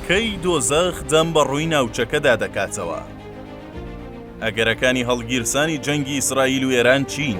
کەی دۆزەخ دەم بە ڕووی ناوچەکەدا دەکاتەوە؟ ئەگەرەکانی هەڵگیرسانی جەنگی ئیسرائیل و ئێران چین؟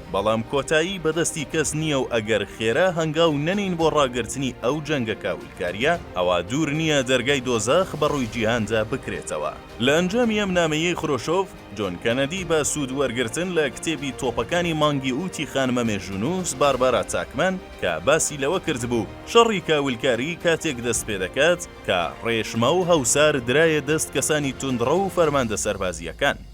بەڵام کۆتایی بە دەستی کەس نییە و ئەگەر خێرا هەنگاو نەنێین بۆ ڕاگرتنی ئەو جەنگە کاولکارییە، ئەوا دوور نییە دەرگای دۆزەخ بە ڕووی جیهاندا بکرێتەوە. لە ئەنجامی ئەم نامەیەی خرۆشۆڤ، جۆن کەنەدی بە سوود وەرگرتن لە کتێبی تۆپەکانی مانگی ئووتی خانمە مێژوونووس باربارا تاکمەن کە باسی لەوە کردبوو شەڕی کاولکاری کاتێک دەست پێ دەکات کە ڕێشماو هەوسار درایە دەست کەسانی توندڕەو و فەرماندە سەربازییەکان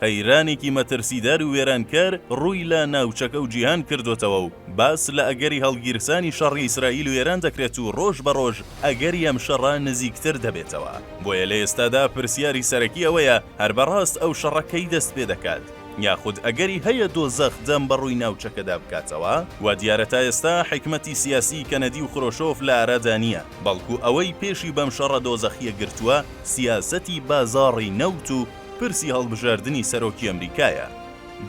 قەیرانێکی مەترسیدار و وێرانکەر ڕووی لە ناوچەکە و جیهان کردۆتەوە و باس لە ئەگەری هەڵگیرسانی شەڕی ئیسرائیل و ئێران دەکرێت و ڕۆژ بە ڕۆژ ئەگەری ئەم شەڕە نزیکتر دەبێتەوە بۆیە لە ئێستادا پرسیاری سەرەکی ئەوەیە هەر بە ڕاست ئەو شەڕە کەی دەست پێ دەکات یاخود ئەگەری هەیە دۆزەخ دەم بە ڕووی ناوچەکەدا بکاتەوە؟ وا دیارە تا ئێستا حیکمەتی سیاسی کەنەدی و خرۆشۆف لە ئارادا نییە بەڵکو ئەوەی پێشی بەم شەڕە دۆزەخییە گرتووە سیاسەتی بازاڕی نەوت و پرسی هەڵبژاردنی سەرۆکی ئەمریکایە.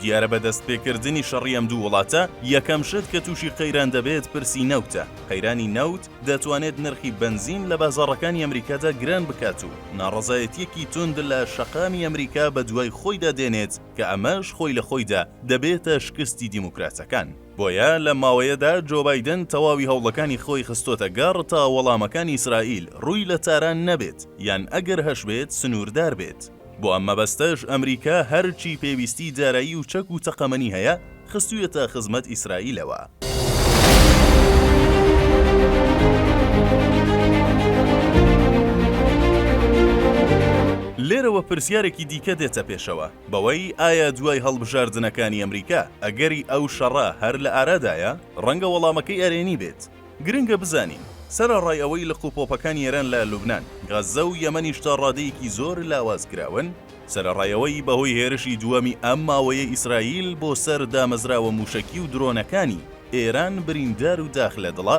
دیارە بە دەستپێکردنی شەڕی ئەم دوو وڵاتە، یەکەم شت کە تووشی قەیران دەبێت پرسی نەوتە، قەیرانی نەوت دەتوانێت نرخی بەنزین لە بازاڕەکانی ئەمریکادا گران بکات و ناڕەزایەتییەکی توند لە شەقامی ئەمریکا بەدوای خۆیدا دێنێت کە ئەمەش خۆی لە خۆیدا دەبێتە شکستی دیموکراتەکان. بۆیە لەم ماوەیەدا جۆ بایدن تەواوی هەوڵەکانی خۆی خستۆتە گەڕ تا وەڵامەکانی ئیسرائیل رووی لە تاران نەبێت یان ئەگەر هەشبێت سنووردار بێت. بۆ ئەم مەبەستەش ئەمریکا هەرچی پێویستی دارایی و چەک و تەقەمەنی هەیە خستوویەتە خزمەت ئیسرائیلەوە. لێرەوە پرسیارێکی دیکە دێتە پێشەوە، بەوەی ئایا دوای هەڵبژاردنەکانی ئەمریکا ئەگەری ئەو شەڕە هەر لە ئارادایە؟ ڕەنگە وەڵامەکەی ئەرێنی بێت. گرنگە بزانین، سەرەڕای ئەوەی لق و پۆپەکانی ئێران لە لوبنان، غەززە و یەمەنیش تا ڕادەیەکی زۆر لاواز کراون، سەرەڕای ئەوەی بەهۆی هێرشی دووەمی ئەم ماوەیە ئیسرائیل بۆ سەر دامەزراوە مووشەکی و درۆنەکانی ئێران بریندار و داخ لە دڵە،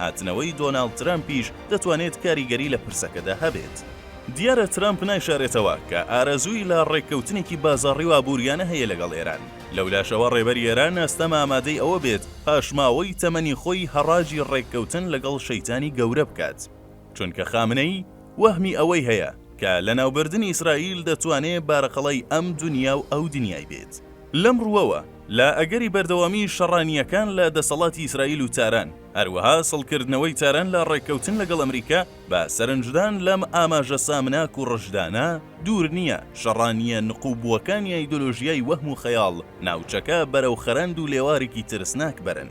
هاتنەوەی دۆناڵد ترەمپیش دەتوانێت کاریگەری لە پرسەکەدا هەبێت. دیارە ترەمپ نایشارێتەوە کە ئارەزووی لە ڕێککەوتنێکی بازاڕی و ئابووریانە هەیە لەگەڵ ئێران. لەولاشەوە ڕێبەری ئێران ئەستەمە ئامادەی ئەوە بێت پاشماوەی تەمەنی خۆی هەڕاجی ڕێککەوتن لەگەڵ شەیتانی گەورە بکات. چونکە خامنەیی وەهمی ئەوەی هەیە کە لەناوبردنی ئیسرائیل دەتوانێ بارەقەڵای ئەم دونیا و ئەو دنیای بێت. لەم ڕووەوە، لە ئەگەری بەردەوامیی شەڕانییەکان لە دەسەڵاتی ئیسرائیل و تاران، هەروەها سڵکردنەوەی تاران لە ڕێککەوتن لەگەڵ ئەمریکا، بە سەرنجدان لەم ئاماژە سامناک و ڕژدانە، دوور نییە شەڕانییە نقووبووەکانی ئایدۆلۆژیای وەهم و خەیاڵ، ناوچەکە بەرەو خەرەند و لێوارێکی ترسناک بەرن.